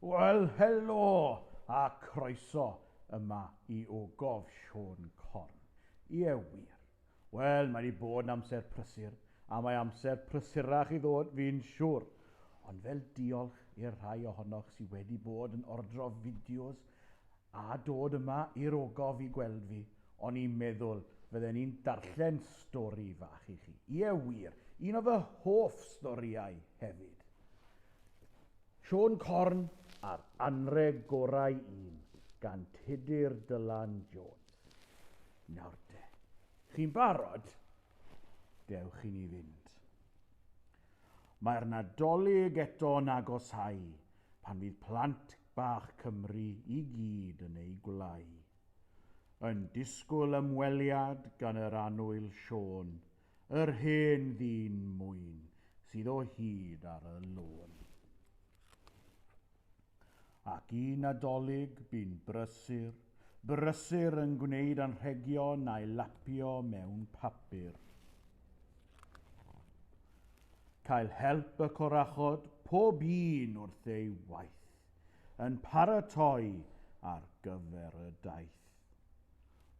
Wel, helo a croeso yma i Ogof Siôn Corn. Ie wir. Wel, mae wedi bod yn amser prysur, a mae amser prysurach i ddod fi'n siwr. Ond fel diolch i'r rhai ohonoch sydd wedi bod yn ordro fideos a dod yma i'r ogof i gweld fi, o'n i'n meddwl fydden i'n darllen stori fach i chi. Ie wir, un o fy hoff storïau hefyd. Siôn Corn a'r anrheg gorau un gan Tudur Dylan Jones. Nawr de, chi'n barod? Dewch i ni fynd. Mae'r Nadolig eto'n agosáu pan fydd plant bach Cymru i gyd yn eu gwlâu. Yn disgwyl ymweliad gan yr annwyl Siôn, yr hen ddyn mwyn sydd o hyd ar y lôn. Ac i Nadolig bu'n brysur, brysur yn gwneud anrhegion a'i lapio mewn papur. cael help y corachod pob un wrth ei waith, yn paratoi ar gyfer y daith.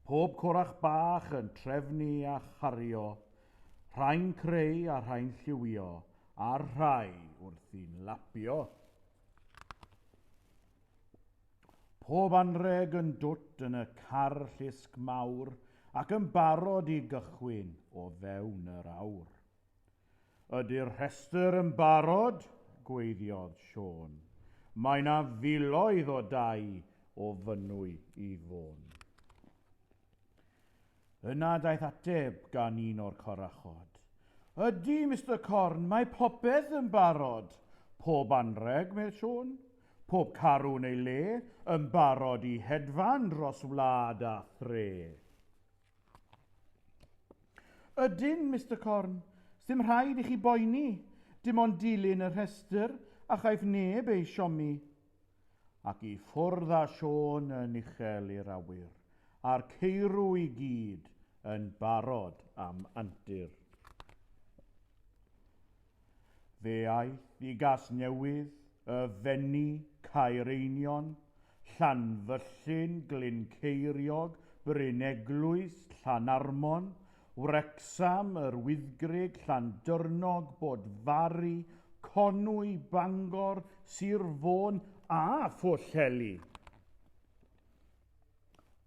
Pob corach bach yn trefnu a chario, rhai'n creu a rhai'n lliwio, a'r rhai wrthi'n lapio. Pob anreg yn dwt yn y car llusg mawr ac yn barod i gychwyn o fewn yr awr. Ydy'r rhestr yn barod? gwaeddodd Siôn. Mae 'na filoedd o dai o Fynwy i Fôn. Yna daeth ateb gan un o'r corachod. Ydy, Mister Corn, mae popeth yn barod. Pob anrheg, medd Siôn. Pob carw yn ei le, yn barod i hedfan dros wlad a thre. Ydyn, Mister Corn. Sdim rhaid i chi boeni. Dim ond dilyn y rhestr a chaiff neb ei siomi. Ac i ffwrdd â Siôn yn uchel i'r awyr, a'r ceirw i gyd yn barod am antur. Fe aeth i Gasnewydd, Y Fenni, Caereinion, Llanfyllin, Glyn Ceiriog, Bryneglwys, Llanarmon, Wrecsam, Yr Wyddgrug, Llandyrnog, Bodfari, Conwy, Bangor, Sir Fôn a Phwllheli.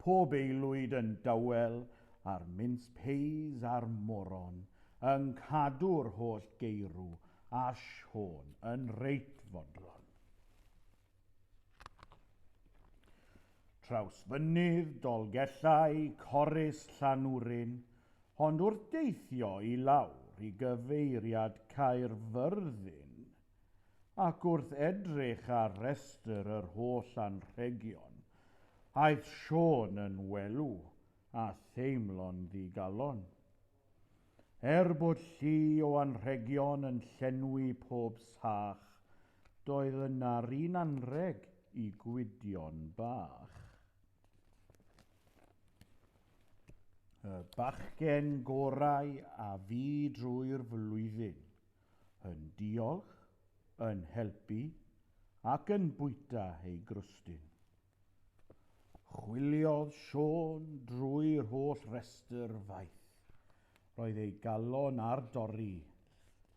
Pob aelwyd yn dawel a'r mince pies a'r moron yn cadw'r holl geirw a Siôn yn reit fodlon. Trawsfynydd, Dolgellau, Corris, Llanwrin, ond wrth deithio i lawr i gyfeiriad Caerfyrddin, ac wrth edrych ar restr yr holl anrhegion, aeth Siôn yn welw a theimlo'n ddigalon. Er bod llu o anrhegion yn llenwi pob sach, doedd yna'r un anrheg i Gwydion Bach. Y bachgen gorau a fu drwy'r flwyddyn. yn diolch, yn helpu ac yn bwyta ei grwstyn. Chwiliodd Siôn drwy'r holl restr faith. Roedd ei galon ar dorri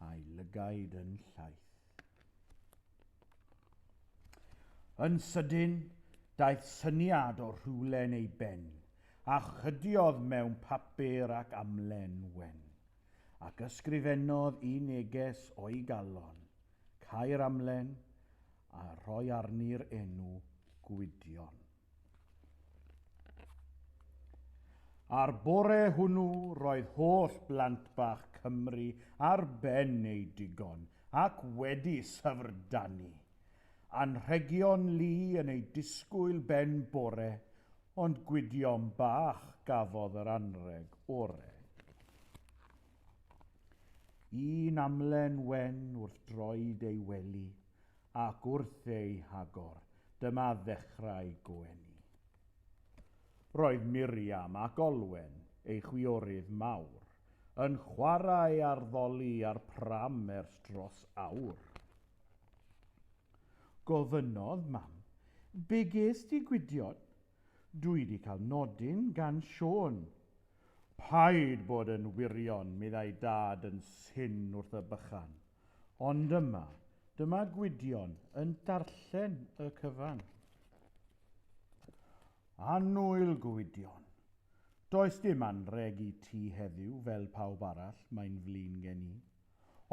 a'i lygaid yn llaith. Yn sydyn, daeth syniad o rhywlen ei ben, a chydiodd mewn papur ac amlen wen. ac ysgrifennodd i neges o'i galon, cau'r amlen a rhoi arni'r enw Gwydion. A'r bore hwnnw roedd holl blant bach Cymru ar ben eu digon ac wedi syfrdanu. Anrhegion lu yn eu disgwyl ben bore, Ond gwydion bach gafodd yr anrheg ore. Un amlen wen wrth droed ei wely, ac wrth ei hagor, dyma ddechrau goeni. Roedd Miriam ac Olwen, ei chwiorydd mawr, yn chwarae ar ddoli ar pram ers dros awr. Gofynnodd Mam, Be gest ti Gwydion? Dw i 'di cael nodyn gan Siôn. Paid bod yn wirion, meddai Dad yn syn wrth y bychan. Ond yma, dyma Gwydion yn darllen y cyfan. Annwyl Gwydion. Does dim anrheg i ti heddiw fel pawb arall, mae'n flin gen i.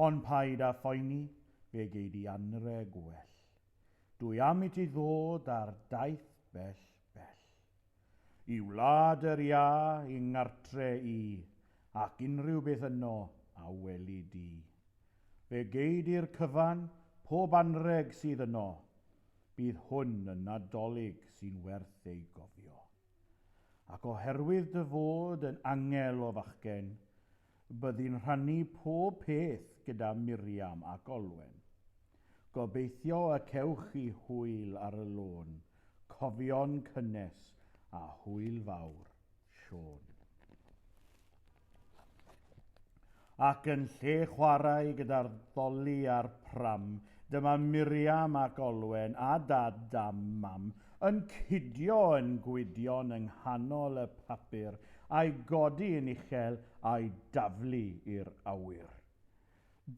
Ond paid â phoeni, fe gei di anrheg well. Dwi am i ti ddod ar daith bell, bell. I wlad yr iâ, i ngartre i, ac unrhyw beth yno a weli di. Fe gei di'r cyfan pob anrheg sydd yno. Bydd hwn yn Nadolig sy'n werth ei gofio. Ac oherwydd dy fod yn angel o fachgen, Byddi'n rhannu pob peth gyda Miriam ac Olwen. Gobeithio y cewch chi hwyl ar y lôn, cofion cynnes a hwyl fawr. Siôn. Ac yn lle chwarae gyda'r ddoli a'r pram, dyma Miriam ac Olwen a dad dam mam yn cidio yn gwydion yng nghanol y papur a'i godi yn uchel a'i daflu i'r awyr.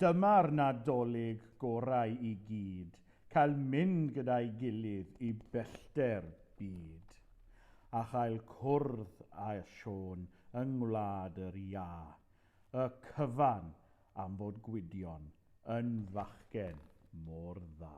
Dyma'r Nadolig gorau i gyd, cael mynd gyda'i gilydd i bellter byd, a chael cwrdd â Siôn yng Ngwlad yr Iâ, y cyfan am fod Gwydion yn fachgen mor dda.